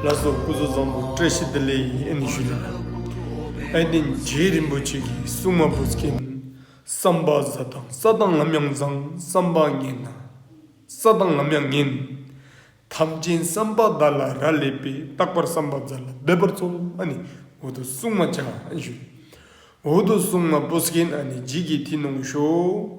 ལྷ་ས་སྐུ་གཟུགས་བཟང་པོ་བཀྲ་ཤིས་བདེ་ལེགས་ཡིན་ཨེ་ནི་ཞུས་ལ། ཨེ་ཏེ་རྗེ་རིན་པོ་ཆེ་གི་སྲུང་མ་བུ་སྐྱེས་ནི་བསམ་པ་བཟའ་དང་ས་དང་ལམ་ཡང་བཟང་བསམ་པ་ངན་ན་ས་དང་ལམ་ཡང་ངན། ཐམས་ཅན་བསམ་པ་བདག་ལ་ར་ལས་པས་རྟག་པར་བསམ་པ་བཟའ་ལ་འབད་པར་འཚོ་ཨ་ནི་འོ་དོ་སྲུང་མ་བྱ་ཨེ་ནི་ཞུས་ལ། འོ་དོ་སྲུང་མ་བུ་སྐྱེས་ཨ་ནི་རྗེས་ཀྱི་དེ་གནང་ཤོག།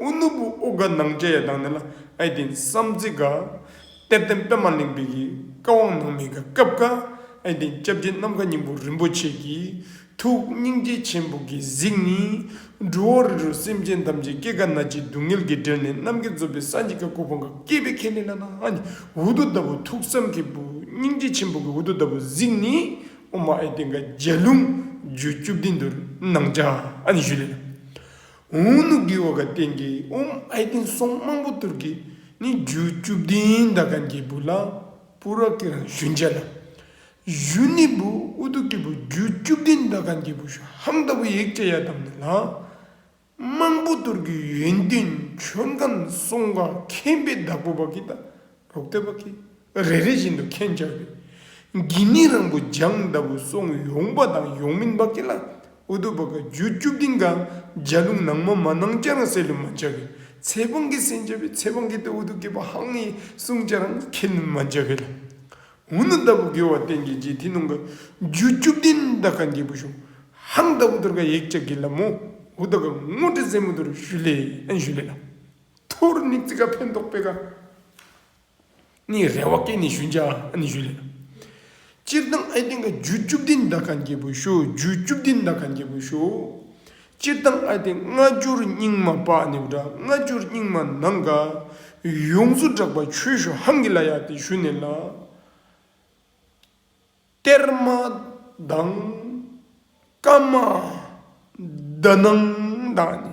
ཨུ་ནུ་བུ་ཨུ་དགའ་སྣང་བཅས་ཡ་དང་ནི་ལ་ཨའི་དེ་བསམ་ཚེ་དགའ། གཏེར་ལྡན་པདྨ་གླིང་པའི་ཡི་དགའ་དབང་སྣང་མི་དགའ་སྐབས་དགའ། ཨའི་དེ་སྐྱབས་རྗེ་ནམ་མཁའ་སྙིང་པོ་རིན་པོ་ཆེ་ཀྱི། ཐུགས་སྙིང་རྗེ་ཆེན་པོ་ཀྱི་གཟིགས་ནི། འབྲུ་འོ་རི་རུ་སེམས་ཅན་ཐམས་ཅད་སྐྱེ་རྒ་ན་འཆིའི་སྡུག་བསྔལ་གྱིས་འབྲེལ་ནས་གནམ་གྱི་རྫོབ་པའི་ས་གཉིས་ཀ་ཀོ་ཕང་ག་སྐྱེས་པའི་ཁེ་ལས་ལ་ན་ཨ་ནི་འུ་དུ་ལྟ་བུ་ཐུགས་བསམ་གྱི་བུ་སྙིང་རྗེ་ཆེན་པོ་ཀྱི་འུ་དུ་ལྟ་བུ་གཟིགས་ནི། ཨོ་མ་ཨའི་དེ་དགའ་རྒྱལ་ལུང་རྒྱུད་བཅུ་བདུན་དུར་སྣང་ཆ་ཨ་ནི་བཞུ་ལས་ལ། དབུ་ནུ་གི་ཨོ་ག་ཏེན་གྱི་ཨོམ་ཨེ་ཏེན་སོགས་དམངས་པོ་ཏུར་ཀི་ནི་རྒྱུ་བཅུ་བདུན་ད་གན་གྱི་བུ་ལ་པུ་ར་ཀི་རང་བཞུན་བྱས་ལ། གཞུ་ནི་བུ་ཨུ་ཏུ་ཀི་བུ་རྒྱུ་བཅུ་བདུན་ད་གན་གྱི་བུ་ཤུ་ཧམ་ད་བུ་ཡིག་བྱེ་ཡ་དམ་ནི་ལ། དམངས་པོ་ཏུར་ཀི་ཡོན་ཏན་མཆོད་མཁན་སོགས་འགའ་མཁན་པའི་བདག་པོ་བ་ཀི་ད་རོག་ཏེ་བ་ཀི། རེ་རེ་བཞིན་དུ་ཁེངས་བཅག་གི་འགྱིང་མིག་རང་བུ་ལྗང་ལྟ་བུ་སོང་ཡོང་པ་དང་ཡོང་མིན་བབ་ཀྱི་ལ་ཨུ་དུ་བ་ག་རྒྱུ་བཅུ་བདུན་ག་འཇའ་ལུང་ནང་མ་མ་ནང་སྐྱ་རང་སེ་ལུ་མ་འཇའ་གི་ཚེ་དཔང་གི་སེ་འཇའ་བའི་ཚེ་དཔང་གི་ལྟ་བུ་དུ་གི་བ་ཧང་ཡི་སུང་སྐྱ་རང་ཁེ་ལུན་མ་འཇའ་གི་ལ་ཨུ་ནུ་ལྟ་བུ་གི་བ་བསྟན་གྱི་རྗེས་དེ་ནང་ག་རྒྱུ་བཅུ་བདུན་ལྟ་ག་འགྱེད་བུ་ཞུང་ཧང་ལྟ་བུ་དུར་ག་ཡིག་བཅག་གི་ལ་མོ་ཨུ་ལྟ་ག་སྔོ་ཁྲི་ཟེ་མོ་དུར་ཞུ་ལེ་ཨན་ཞུ་ལེ་ལ་ཐུར་ནིག་ཙི་ག་ཕན་ཐོགས་པེ་ག། ནི་རེ་བ་སྐད་ནི་ཞུན་ཆ་ཨ་ནི་ཞུ་ལེ། སྤྱིར་བཏང་ཨའི་སྟེང་གི་རྒྱུད་བཅུ་བདུན་འདའ་ཁ་འགྱེད་པོ་ཞུ་རྒྱུད་བཅུ་བདུན་འདའ་ཁ་འགྱེད་པོ་ཞུ། སྤྱིར་བཏང་ཨའི་སྟེང་ལྔ་བསྒྱུར་སྙིང་མ་པ་ནི་བྲག་ལྔ་བསྒྱུར་སྙིང་མ་ནང་ག། ཡོངས་སུ་བསྒྲགས་པ་ཆོས་ཞུ་ཧང་གི་ལ་ཡ་སྟེ་ཞུ་ནི་ལ། གཏེར་མ་དང། བཀའ་མ། བརྡ་ནང་དང་ནི།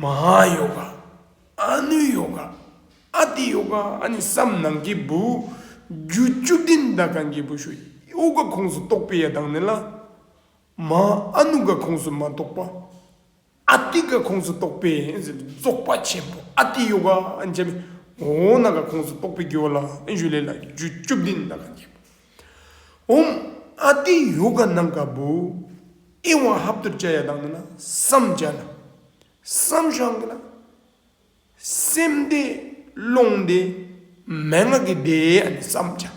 མ་ཧཱ་ཡོ་ག། ཨ་ནུ་ཡོ་ག། ཨ་ཏི་ཡོ་ག་ཨ་ནི་བསམ་ནང་གི་བུ། རྒྱུ་བཅུ་བདུན་མདའ་གང་གི་བུ་ཞུ། ཨུ་ག་ཁོངས་སུ་གཏོགས་པའི་ཡ་དང་ནི་ལ། མ་ཨ་ནུ་ག་ཁོངས་སུ་མ་གཏོགས་པ། ཨ་ཏི་ག་ཁོངས་སུ་གཏོགས་པའི་རྫོགས་པ་ཆེན་པོ་ཨ་ཏི་ཡོ་ག། འོ་ན་ག་ཁོངས་སུ་གཏོགས་པའི་རྒྱུ་བ་ལ་ཨེ་ཞུ་ལེ་ལ་རྒྱུ་བཅུ་བདུན་མདའ་གང་གི་བུ། འོང། ཨ་ཏི་ཡོ་ག་ནང་ག་བུ། ཨི་ཝང་ཧབ་ཏུ་བཅའ་ཡ་དང་ནི་ན་བསམ་བཅའ་ན། བསམ་ཤང་གི་ན། སེམས་བདེ་བློང་བདེ། མན་ངག་གི་བདེ་ཨ་ནི་བསམ་བཅའ།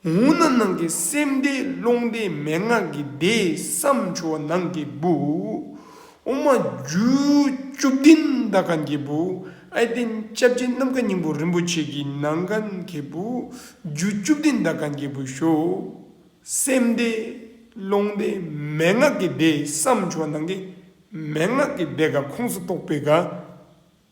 འོང་ན་ནང་གི་སེམས་བདེ་བློང་བདེ་མན་ངག་གི་བདེ་བསམ་བཅའ་བ་ནང་གི་བུ། དབུ་མ་རྒྱུད་བཅུ་བདུན་ཟླ་ག་འགྱེད་པོ་ཨའི་སྟེང་སྐྱབས་རྗེ་རྣམ་བཀའ་སྙིང་པོ་རིན་པོ་ཆེ་གི་ནང་ག་འགྱེད་པོ་རྒྱུད་བཅུ་བདུན་ཟླ་ག་འགྱེད་པོ་ཞོག། སེམས་སྡེ། ཀློང་སྡེ་མན་ངག་གི་སྡེ་བསམ་བྱུང་བ་ནང་གི་མན་ངག་གི་སྡེ་ག་ཁོངས་སུ་གཏོགས་པའི་ག་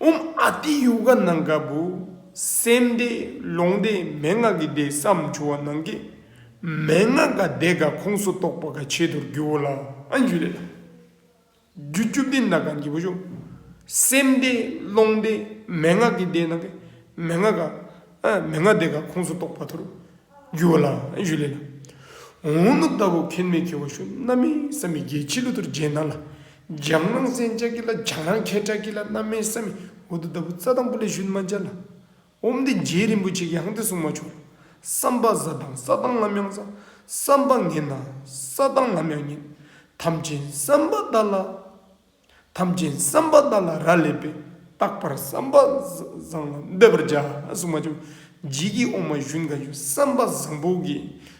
འོམ་ཨ་ཏི་ཡོ་ག་གནང་སྐབས་བུ་སེམས་བདེ་ལོང་བདེ་མན་ངག་གི་བདེ་བསམ་བྱུང་བ་ནང་གི་མན་ངག་འགའ་བདེ་འགའ་ཁོངས་སུ་གཏོགས་པ་འགའ་བྱེད་དུ་རྒྱུ་བོ་ལ་ཨན་རྒྱུ་ལས་དང་རྒྱུ་བཅུ་བདེ་འདའ་གང་གི་བུ་བུ་སེམས་བདེ་ལོང་བདེ་མན་ངག་གི་བདེ་ནང་གི་མན་ངག་འགའ་མན་ངག་བདེ་འགའ་ཁོངས་སུ་གཏོགས་པ་དུ་རུ་རྒྱུ་བོ་ལ་ཨན་རྒྱུ་ལས་དང་འོ་ནུབ་ལྟ་བུ་ཁེན་མེད་ཁེ་བོ་ཤུ་ན་མི་བསམ་མི་དགེ་ཕྱི་ལུ་དུར་རྗེས་འདང་ལ་འཇམ་སྣང་གསན་བཅག་གི་ལ་བྱང་རང་ཁྱེད་ཁྲག་གི་ལ་རྣམ་སྨིན་བསམ་མི་མགོ་དུ་ལྟ་བུ་རྩ་དང་པོ་ལས་ཞུན་མ་འབྱར་ལ། འོམ་འདི་རྗེ་རིན་པོ་ཆེ་གི་ཧང་སྟེ་གསུང་མ་བྱུང། བསམ་པ་བཟའ་དང་ས་བཏང་ལམ་ཡང་བཟའ། བསམ་པ་ངན་དང་ས་བཏང་ལམ་ཡང་ངན། དམ་ཅན་བསམ་པ་བདག་ལ། དམ་ཅན་བསམ་པ་བདག་ལ་ར་ལས་པས་རྟག་པར་བསམ་པ་བཟང་ལ་འདེབས་པར་བྱ། གསུང་མ་བྱུང། རྗེ་ཀྱི་འོ་མ་ཞུན་དགའ་ཡུལ་བསམ་པ་བཟང་པོ་གི།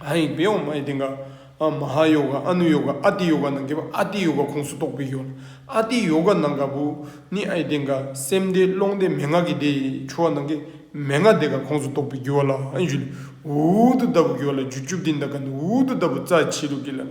ཨ་ཡིག་བེ་ཡོག་མ་ཡི་སྟེང་ཀ་མ་ཧཱ་ཡོ་ག་ཨ་ནུ་ཡོ་ག་ཨ་ཏི་ཡོ་ག་ནང་གི་བ་ཨ་ཏི་ཡོ་ག་ཁོངས་སུ་གཏོགས་པའི་ཡོ་ཨ་ཏི་ཡོ་ག་ནང་ག་བུ་ནི་ཨ་ཡི་སྟེང་ཀ་སེམས་སྡེ་ཀློང་སྡེ་མན་ངག་གི་སྡེ་ཡི་ཆུ་བ་ནང་གི་མན་ངག་སྡེ་ཀ་ཁོངས་སུ་གཏོགས་པའི་རྒྱུ་བ་ལ་ཨན་ཞུ་ལས་འུར་འུར་དུ་ལྟ་བུ་རྒྱུ་བ་ལ་རྒྱུ་བཅུ་བདུན་དང་ཀ་ནི་འུར་འུར་དུ་ལྟ་བུ་རྩ་ཆེ་ལུགས་ཀྱི་ལམ་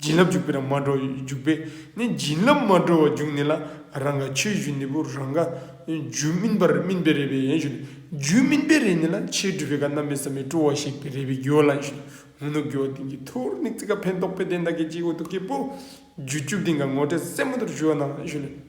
བྱིན་རླབས་འཇུག་པའི་རང་མ་འགྲོ་བས་འཇུག་པས་ནི་བྱིན་རླབས་མ་འགྲོ་བ་འཇུག་ནི་ལ་རང་ག་ཕྱིར་བཞུད་ནི་བུ་རང་ག། རྒྱུ་སྨིན་པར་སྨིན་པའི་རེ་བས་ཡན་ཞུ་ནི་རྒྱུ་སྨིན་པའི་རེ་ནི་ལ་ཕྱིར་སྤྲུལ་པའི་ག་རྣམ་སྨིན་བསམ་མི་སྤྲོ་བ་ཞིག་པའི་རེ་བས་རྒྱུ་བ་ལ་ཡན་ཞུ་ནི་ཧུ་ནུ་རྒྱུ་བ་དེང་གི་ཐུར་ནི་ཙི་ཀ་འཕན་ཏོག་པའི་གདན་དག་གི་སྤྱི་བོ་དུ་ཀི་པུ། རྒྱུ་བཅུ་བདེན་ག་ངོ་སྤྲད་སེན་མོ་དུར་ཞུ་བ་ནང་ལ་ཡན་ཞུ་ནི།